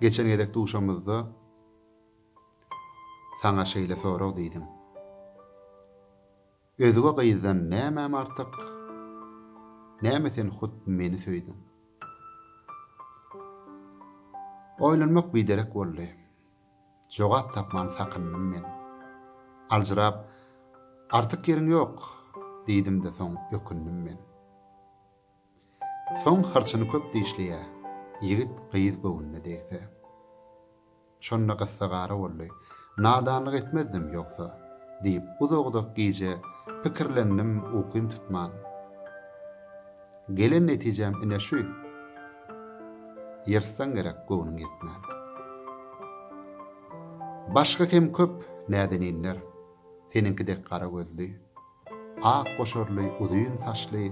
Geçen gezek duşamyzda saňa şeýle sorag diýdim. Özge gyzdan nämäm artyk? Näme sen hut meni söýdüň? Oýlanmak biderek boldy. Jogap tapman sakyndym men. Aljyrap, Artyk ýeriň ýok, diýdim-de soň ökündim men. Soň hyrçyny köp dişleýä, ýigit gyz göwnüne degse. Şonda gyssagara boldy. Nadanlyk etmezdim, ýogsa, diýip, uzak-uzak gije pikirlendim, ukym tutman. Gelen netijäm ine şu, ýyrtsaň gerek göwnüň ýetmän. Başga hem köp näzeninler, seniňki dek gara gözli, Ak goşarly, uzyn saçly,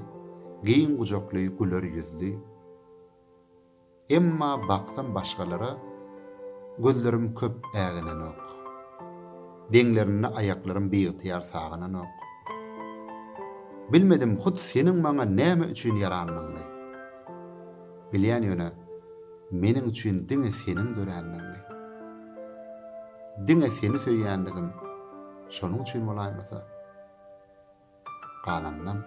giň gujakly, güler ýüzli. Emma baksam başgalara gözlerim köp äginenok. Deňlerinde aýaklarym biygtyýar sagananok. Bilmedim hut seniň maňa näme üçin ýaranlygyňy. Bilýän ýöne meniň üçin diňe seniň döränligiňi. Diňe seni söýýänligim. Şonuň üçin bolaýmasa, galanynam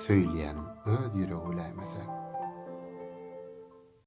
söýülýäniň öz ýüregi biläýmese.